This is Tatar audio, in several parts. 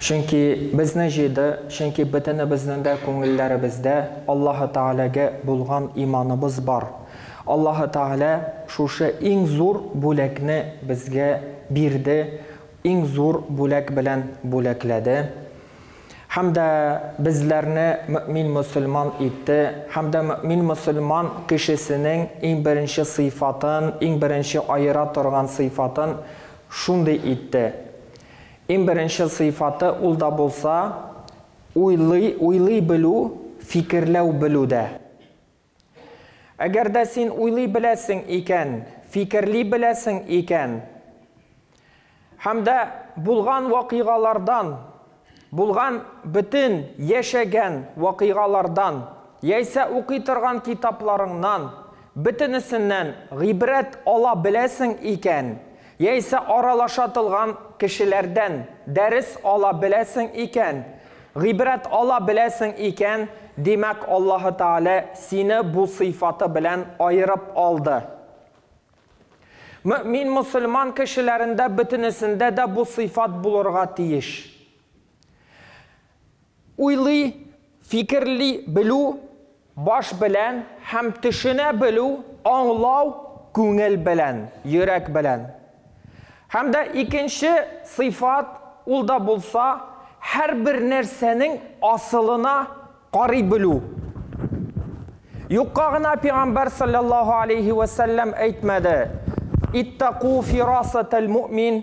Чөнки безне җыйды, чөнки бөтенебезнең дә күңелләребездә Аллаһы Тәгаләгә булган иманыбыз бар. Аллаһы Тәгалә шушы иң зур бүләкне безгә бирде, иң зур бүләк белән бүләкләде һәм дә безләрне мөэмин-мөселман итте һәм дә мөэмин-мөселман кешесенең иң беренче сыйфатын, иң беренче аера торган сыйфатын шундый итте. Иң беренче сыйфаты ул да булса, уйлый, уйлый белү, фикерләү белү дә. Әгәр дә син уйлый беләсең икән, фикерли беләсең икән, һәм дә булган вакыйгалардан, булган бөтен яшәгән вакыйгалардан, яисә укый торган китапларыңнан, бөтенесеннән гыйбрәт ала беләсең икән, Яисә аралашатылган кешеләрдән дәрес ала беләсең икән, гыйбрәт ала беләсең икән, димәк, Аллаһы Тәгалә сине бу сыйфаты белән аерып алды. Мөэмин-мөселман кешеләрендә бөтенесендә дә бу сыйфат булырга тиеш. Уйлый, фикерли белү, баш белән, һәм төшенә белү, аңлау, күңел белән, йөрәк белән. Һәм дә икенче сыйфат, ул да булса, һәрбер нәрсәнең асылына карый белү. Юкка гына Пигамбәр салләллаһу алейһи вә сәлләм әйтмәде, Иттәку фирасатәл муъмин,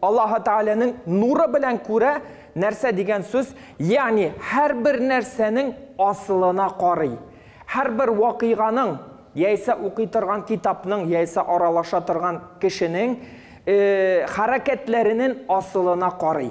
Аллаһы Тәгаләнең нуры белән күрә, нәрсә дигән сүз, ягъни һәрбер нәрсәнең асылына карый. Һәрбер вакыйганың, яисә укый торган китапның, яисә аралаша торган кешенең хәрәкәтләренен асылына карый.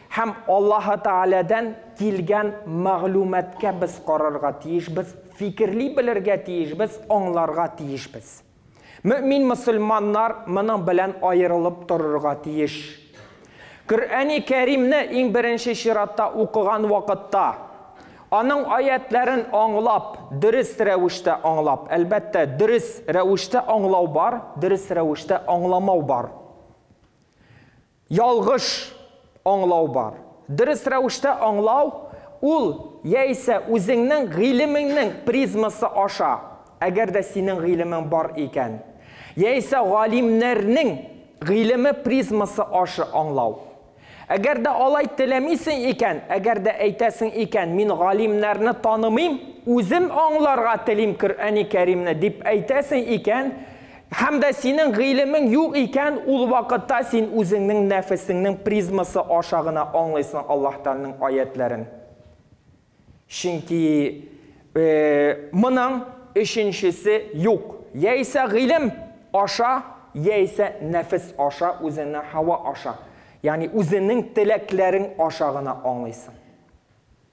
Һәм Аллаһы Тәгаләдән килгән мәгълүматкә без карарга тиешбез, фикерли белергә тиешбез, аңларга тиешбез. Мөэмин мөселманнар моның белән аерылып торырга тиеш. Коръәни Кәримне иң беренче чиратта укыган вакытта, аның аятьләрен аңлап, дөрес рәвештә аңлап, әлбәттә, дөрес рәвештә аңлау бар, дөрес рәвештә аңламау бар. Ялгыш аңлау бар. Дөрес рәвештә аңлау, ул, яисә үзеңнең гыйлемеңнең призмасы аша, әгәр дә синең гыйлемең бар икән, яисә галимнәрнең гыйлеме призмасы ашы аңлау. Әгәр дә алай теләмисең икән, әгәр дә әйтәсең икән, мин галимнәрне танымыйм, үзем аңларга телим Коръәни Кәримне, дип әйтәсең икән, Һәм дә синең гыйлемең юк икән, ул вакытта син үзеңнең нәфесеңнең призмасы аша гына аңлыйсың Аллаһ Тәгаләнең аятьләрен. Чөнки моның өченчесе юк. Яисә гыйлем аша, яисә нәфес аша, үзеңнең һава аша. Ягъни үзеңнең теләкләрең аша гына аңлыйсың.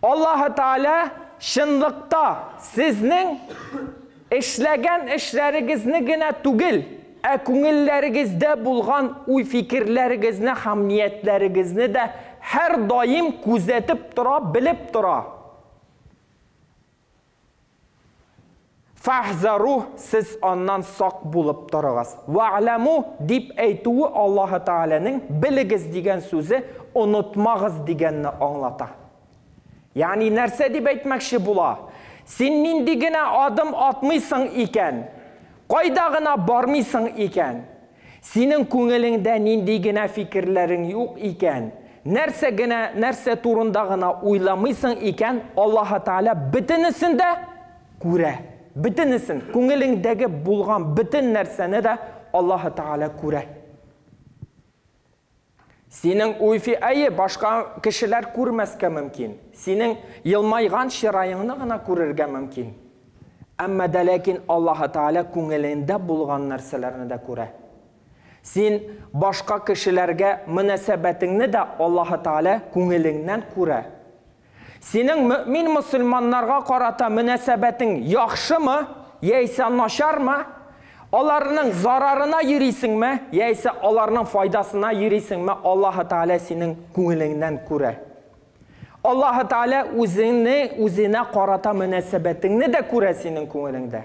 Аллаһы Тәгалә чынлыкта сезнең эшләгән эшләрегезне генә түгел, ә күңелләрегездә булган уй-фикерләрегезне һәм ниятләрегезне дә һәрдаим күзәтеп тора, белеп тора. Фәһзәру, сез аннан сак булып торыгыз. Вә'ләму, дип әйтүе Аллаһы Тәгаләнең белегез дигән сүзе онытмагыз дигәнне аңлата. Ягъни нәрсә дип әйтмәкче була? Син нинди генә адым атмыйсың икән, кайда гына бармыйсың икән, Синең күңелеңдә нинди генә фикерләрең юк икән, нәрсә генә, нәрсә турында гына уйламыйсың икән, Аллаһы Тәгалә бөтенесен дә күрә. Бөтенесен, күңелеңдәге булган бөтен нәрсәне дә Аллаһы Тәгалә күрә. Синең уйфи әйе, башка кешеләр күрмәскә мөмкин. Синең елмайган чыраеңны гына күрергә мөмкин. Әмма дә ләкин Аллаһы Тәгалә күңелеңдә булган нәрсәләрне дә күрә. Син башка кешеләргә мөнәсәбәтеңне дә Аллаһы Тәгалә күңелеңнән күрә. Синең мөэмин мөселманнарга карата мөнәсәбәтең яхшымы, яисә начармы? Аларның зарарына йөрисеңме, яисә аларның файдасына йөрисеңме, Аллаһы Тәгалә синең күңелеңнән күрә. Аллаһы Тәгалә үзеңне, үзенә карата мөнәсәбәтеңне дә күрә синең күңелеңдә.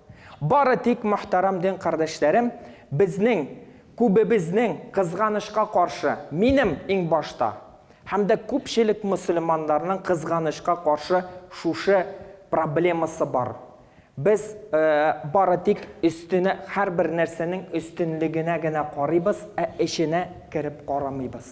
Бары тик, мохтарам дин кардәшләрем, безнең, күбебезнең, кызганычка каршы, минем иң башта, һәм дә күпчелек мөселманнарның кызганычка каршы шушы проблемасы бар. Без бары тик өстенә, һәрбер нәрсәнең өстенлегенә генә карыйбыз, ә эченә кереп карамыйбыз.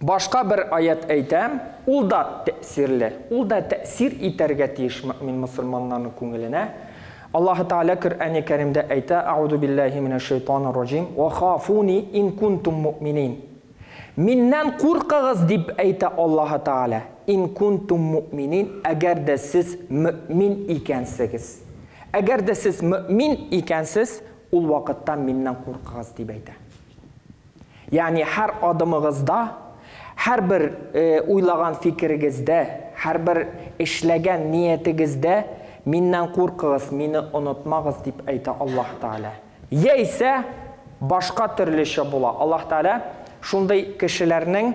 Башка бер аять әйтә, ул да тәэсирле, ул да тәэсир итәргә тиеш мөэмин мөселманнарның күңеленә. Аллаһы Тәгалә Коръәни Кәримдә әйтә, Аузу биллаһи минәш шайтанир раҗим, ва хафуни ин кунтум мөэминин. Миннән куркыгыз дип әйтә Аллаһы Тәгалә, ин кунтум мөэминин, әгәр дә сез мөэмин икәнсегез. Әгәр дә сез мөэмин икәнсез, ул вакытта миннән куркыгыз дип әйтә. Ягъни һәр адымыгызда, һәрбер уйлаган фикерегездә, һәрбер эшләгән ниятегездә Миннән куркыгыз, Мине онытмагыз, дип әйтә Аллаһ Тәгалә. Яисә башка төрлечә була. Аллаһ Тәгалә шундый кешеләрнең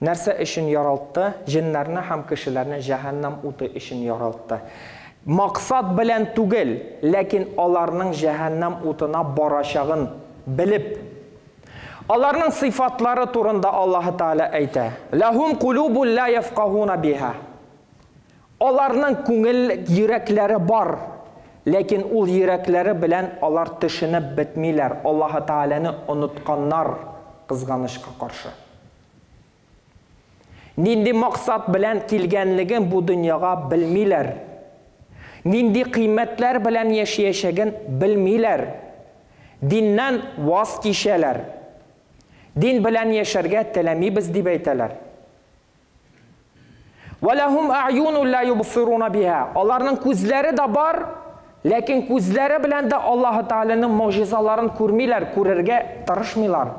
Нәрсә өчен яралтты? Җеннәрне һәм кешеләрне җәһәннәм уты өчен яралтты. Максат белән түгел, ләкин аларның җәһәннәм утына барачагын белеп. Аларның сыйфатлары турында Аллаһы Тәгалә әйтә, Ләһүм кулубун лә яфкаһуна биһа. Аларның күңел йөрәкләре бар, ләкин ул йөрәкләре белән алар төшенеп бетмиләр, Аллаһы Тәгаләне онытканнар, кызганычка каршы. Нинди максат белән килгәнлеген бу дөньяга белмиләр. Нинди кыйммәтләр белән яшиячәген белмиләр. Диннән ваз кичәләр. Дин белән яшәргә теләмибез дип әйтәләр. Вәләһум ә'юнун ла юбсируна биһа. Аларның күзләре дә бар, ләкин күзләре белән дә Аллаһы Тәгаләнең могҗизаларын күрмиләр, күрергә тырышмыйлар.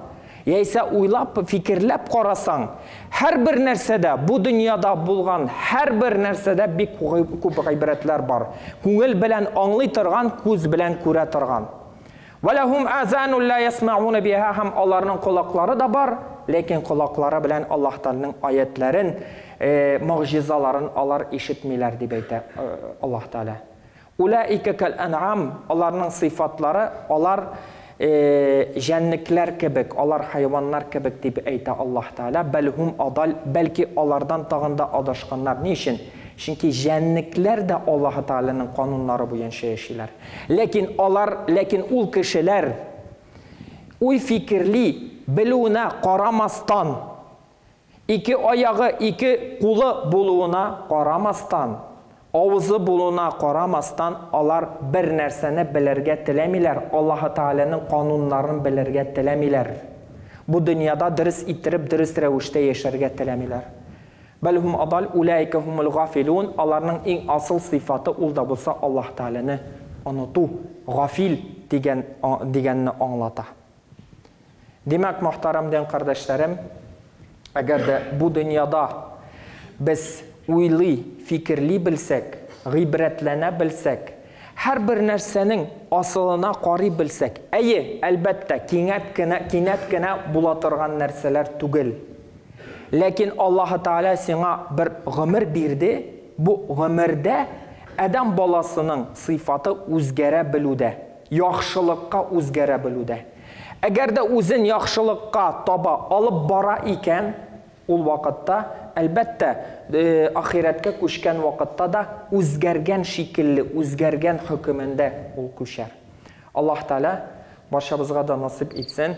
Яисә уйлап, фикерләп карасаң, һәрбер нәрсәдә, бу дөньяда булган һәрбер нәрсәдә бик күп гыйбрәтләр бар. Күңел белән аңлый торган, күз белән күрә торган. Вә ләһүм азану лә ясмәгуна биһа һәм аларның колаклары да бар, ләкин колаклары белән Аллаһ Тәгаләнең аятьләрен, могҗизаларын алар ишетмиләр дип әйтә Аллаһ Тәгалә. Улаика кәл әнъам, аларның сыйфатлары, алар җәнлекләр кебек, алар хайваннар кебек дип әйтә Аллаһ Тәгалә. Бәл һүм адаль, бәлки алардан тагын да адашканнар. Ни өчен? Чөнки җәнлекләр дә Аллаһ Тәгаләнең кануннары буенча яшиләр. Ләкин алар, ләкин ул кешеләр, уй-фикерли белүенә карамастан, ике аягы, ике кулы булуына карамастан, авызы булуына карамастан, алар бер нәрсәне белергә теләмиләр, Аллаһы Тәгаләнең кануннарын белергә теләмиләр. Бу дөньяда дөрес иттереп, дөрес рәвештә яшәргә теләмиләр. Бәл һум адаль, уләика һумул гафилун, аларның иң асыл сыйфаты ул да булса Аллаһ Тәгаләне оныту, гафил дигән дигәнне аңлата. Димәк, мохтарам дин кардәшләрем, әгәр дә бу дөньяда без уйлый, фикерли белсәк, гыйбрәтләнә белсәк, һәрбер нәрсәнең асылына карый белсәк, әйе, әлбәттә, кинәт кенә кинәт кенә була торган нәрсәләр түгел, Ләкин Аллаһы Тәгалә сиңа бер гомер бирде, бу гомердә адәм баласының сыйфаты үзгәрә белүдә, яхшылыкка үзгәрә белүдә. Әгәр дә үзен яхшылыкка таба алып бара икән, ул вакытта, әлбәттә, ахирәткә күчкән вакытта да үзгәргән шикелле, үзгәргән хөкемендә ул күчәр. Аллаһы Тәгалә барчабызга да насыйп итсен.